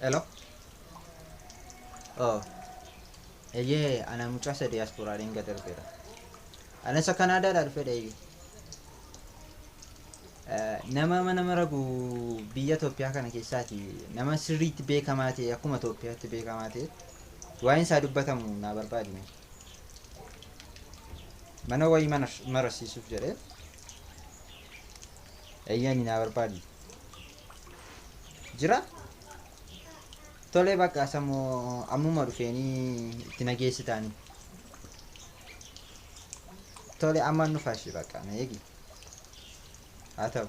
Hello. Oh. Eyyee ana mucaa isa diyaaspooraatiin gad darbeera. Ana isa Kanaadaadhaa dhufedha eeyyee. Eh, Nama mana maragu biyya Itoophiyaa kana keessaati nama sirriitti beekamaa ta'e akkuma Itoophiyaatti beekamaa ta'e waa'een isaa dubbatamu naa barbaadime. Mana wayii mana marasiisuuf jedhee Eeyyani naa barbaadi. Jira? Tolee bakka samoo ammuma dhufeenii itti na geessitaani. Tole ammaan dhufa ishee bakka na eegi. Haa ta'u.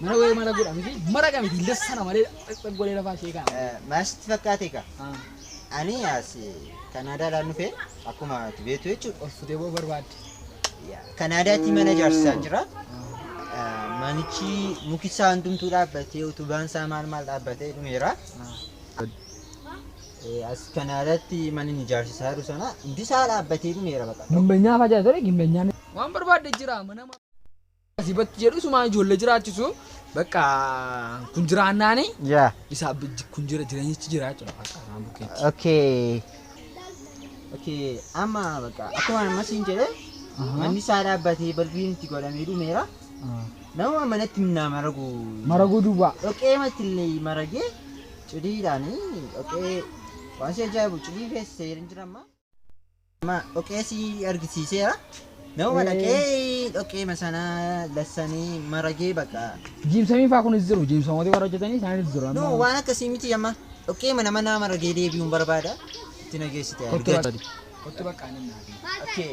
Mana wayii mana godha miti mara qaba miti lessana malee dhaqxaq godhee lafaa ishee kaa'ama. Eh, Maal sitti fakkaate egaa? Ah, Ani as Kanaadaadhaan dhufe akkuma ati beektu jechuudha. Ol futee boo barbaadde. Yaa, Kanaadaatti mana ijaarsisaa jira. Eh, Manichi muki isaa hundumtuu dhaabbatee utubaan isaa maal maal dhaabbatee dhumeera. Ah, Eh, As Kanaadaatti mana inni ijaarsisaa jiru sana hundi isaa dhaabbatee dhumeera baqa. Gimbenyaa fa'aa jira ture gimbenyaan. Waan barbaadde jira mana. Asii batti jedhu sumaan ijoollee jiraachisu bakka kun jiraannaani Yaa. isaa kun jira jireenyichi jira jechuudha bakka isaan bukkeetti. Okay. Okay. Amma bakka akkuma amma siin jedhe manni isaa dhaabbatee balbiin itti godhamee dhumeera. Nama manatti minnaa maragu. Maraguu duwwaa. Dhoqee matillee maragee cidiidhaani dhoqee waan si ajaa'ibu cidii keessa seera hin jiramma. Maa dhoqee si argisiiseera. Nama Eh. dhaqee dhoqee masanaa lassanii maragee baqa. Jiimsamii faa kunis jiru jiimsamooti warra hojjetanii isaanis jiru No amma waan akkasii miti amma dhoqee mana manaa maragee deebi'uun barbaada. Itti nageessite. kottu argate. bakka kottu bakka anan naa Okay.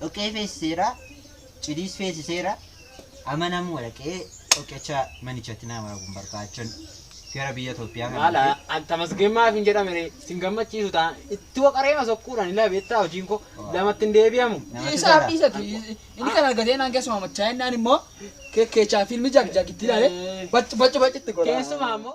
dhoqqee feesiseera, cidiis feesiseera. Amma namni walaqee dhoqqecha manichatti nama kun barbaachan gara biyya Itoophiyaa kana. Maala an tamasgeen maaf hin jedhame ree sin gammachiisu taa itti waqareema sokkuudhaan ila beektaa hojiin koo lamatti hin deebi'amu. Namatti Isaa tola. dhiisati inni kan argatee naan keessumaa machaa'inaan immoo keekkeechaa fiilmi jagjag itti ilaale bacci bacci bacci itti godha. Keessumaa immoo.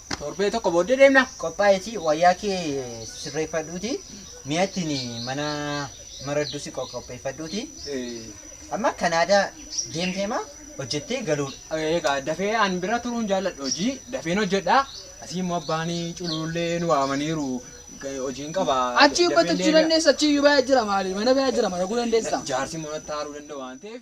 Torbee tokko booddee deemna. Qophaa'eeti wayyaa kee sirreeffadhuuti mi'a ittiin mana maraddus qopheeffadhuuti. Amma Kanaadaa deemtee maa hojjettee galuudha. Egaa dafee an bira turuun jaalladha hojii dafeen hojjedha. Asii immoo abbaan cululullee nu waamaniiru hojiin qaba. Achi dafeen gottachuu deebi'a. dandeessa achi iyyuu baya jira maali mana baya jira mana guu dandeessa. Jaarsi immoo natti haaruu danda'a waan ta'eef.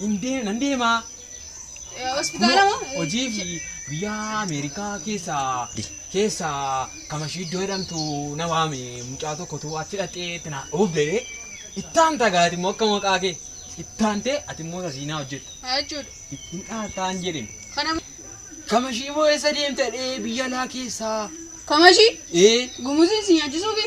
Hin deem- nan deemaa. Eh, Hospitaala moo? Hojii fi biyya Ameerikaa keessa keessa kamashii iddoo jedhamtu na waame mucaa tokkotu achi dhaqee itti na obbee ittaan tagaati immoo akka maqaa kee ittaan ta'e ati immoo sasiinaa hojjetta Haa jechuudha. ittiin dhaataan jedhin Kana moo? kamashii moo eessa deemta dhee biyya laa keessaa Kamashii? ee Gumuziin si nyaachisuufi?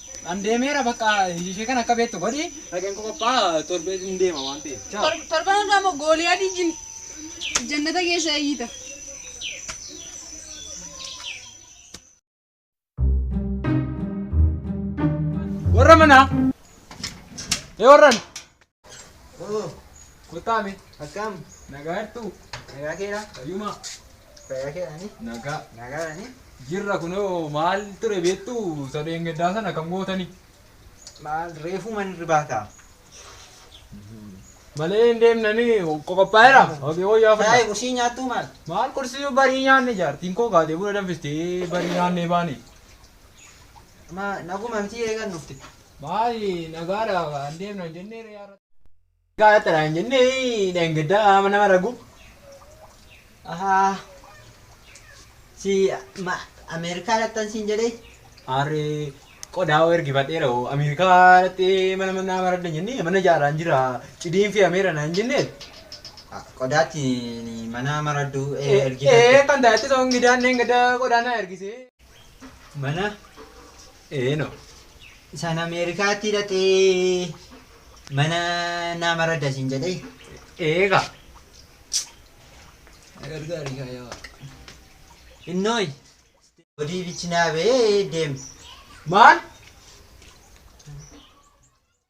An deemeera bakka ishee kan akka beektu godhi dhaqeen koo qophaa torbee hin deema waan ta'eef. Ciao. Tor- Torban irraa immoo gooliyaadii jin jannata keessa eeyyita. Warra manaa. Ee warran. Kuttaame. Akkam. Nagaa jirtuu? Nagaa keedha. Fayyumaa. Fayyaa keedhaani. Nagaa. Nagaadhaani. Jirra kunoo maal ture beektuu sadeen gaddaa sana kan gootanii. Maal reefuu man irbaata. Malee hin deemnanii qoqophaa'eera. Hogee wayyaa Taa'e fudhata. kursii nyaattuu maal? Maal kursii barii nyaanne jaartiin koo kaatee buna danfistee barii nyaannee baane. Ma naguma miti eegan dhufte. Maali nagaadha waan deemna hin jennee ree har'a. Nagaadha taraa hin jennee dheengaddaa haama nama ragu. Ahaa. Si ma Ameerikaa dhaqxan siin jedhee. Harree qodaa hoo ergifadheera hoo Ameerikaa dhaqxee mana manaa maradda hin jennee mana ijaaraan jira cidiin fe'ameera na hin jennee. Qodaatti mana maradduu Ee ergifadhe. kan taa'etti soon gidaan dheengaddaa qodaa na ergisee. Mana eeno isaan Ameerikaatti hidhatee mana nama radda siin jedhee eega. Na gargaari kaa yaa waaqa. Innooy. Odii bichinaa bee deem. Maal?